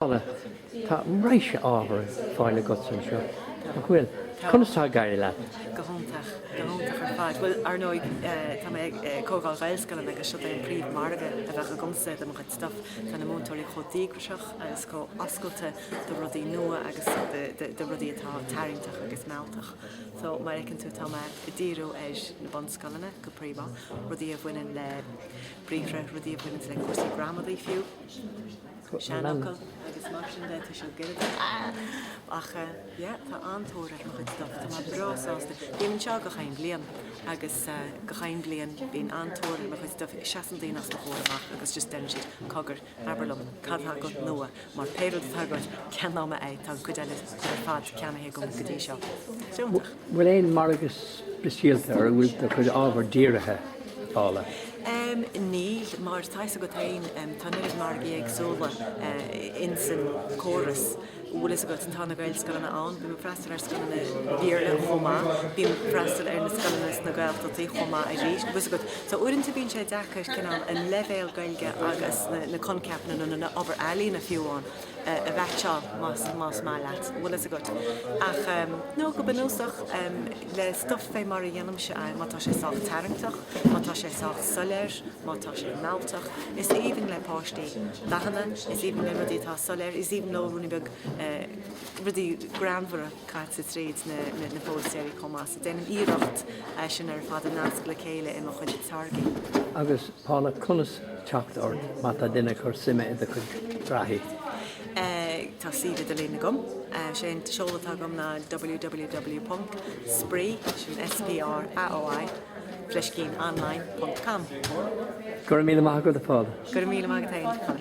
Paula, tá raidhse ábhar ar fáil agatsa anseo, nach bhfuil? Conas tá ag éirí leat? Go hiontach, go hiontach ar fad. Bhuel, ar ndóigh, tá mé ag comhdháil Ghaelscoileanna agus seo é an príomh-mhargadh a bheadh agamsa do mo chuid stuff. Tá na múinteoirí chomh díograiseach agus chomh oscailte do rudaí nua agus do rudaí atá tarraingteach agus mealltach. So, mar a fheiceann tú, tá mé ag díriú ar na bunscoileanna go príomha, rudaí a bhaineann le briathra, rudaí a bhaineann le cúrsaí gramadaí fiú. seanfhocail agus mar sin de, tá siad go léir ach yeah, tá an-tóir ar mo chuid stuff, tá mé breá sásta. Bím anseo gach aon bhliain agus gach aon bhliain bíonn an-tóir ar mo chuid stuff, seasann daoine os mo chomhair amach agus just deireann siad, cogar, abair liom, cad atá agat nua, mar pé rud atá agat, ceannóidh mé é, tá an chuid eile ar fad ceannaithe agam go dtí seo. Iontach. bhfuil aon margadh speisialta ar a bhfuil do chuid ábhar dírithe, Paula? Níl, mar tá fhios agat féin, tá an oiread margaí éagsúla ins an gcóras. Bhfuil fhios agat, tá na Gaelscoileanna ann, bím ag freastal ar scoileanna Béarla chomh maith, bím ag freastal ar na scoileanna sna Gaeltachtaí chomh maith arís. Bhfuil fhios agat, so uaireanta bíonn sé deacair cineál an leibhéal Gaeilge agus na na coincheapanna nó na na obair ealaíne fiú amháin, a mheaitseáil, más maith leat, bhfuil fhios agat. Ach, nó go bunúsach, le stuff fé mar a dhéanaimse é, má tá sé sách tarraingteach, má tá sé sách soiléir, má tá sé mealltach, is aoibhinn le páistí dathanna, is aoibhinn leo rudaí atá soiléir, is aoibhinn leo rúin bheaga, rudaí greannmhara. caite tríd na póstaeirí chomh maith. So déanaim iarracht sin ar fad a nascadh le chéile i mo chuid táirgí. Agus Paula, conas teacht ort má tá duine ag cur suime i do chuid earraí? Tá suíomh idirlín agam. Sé an seoladh atá agam ná www.spraoi, sin S-P-R-A-O-I, fleiscín online, ponc com. Go raibh míle maith agat, a Paula. Go raibh míle maith agat féin, Colm.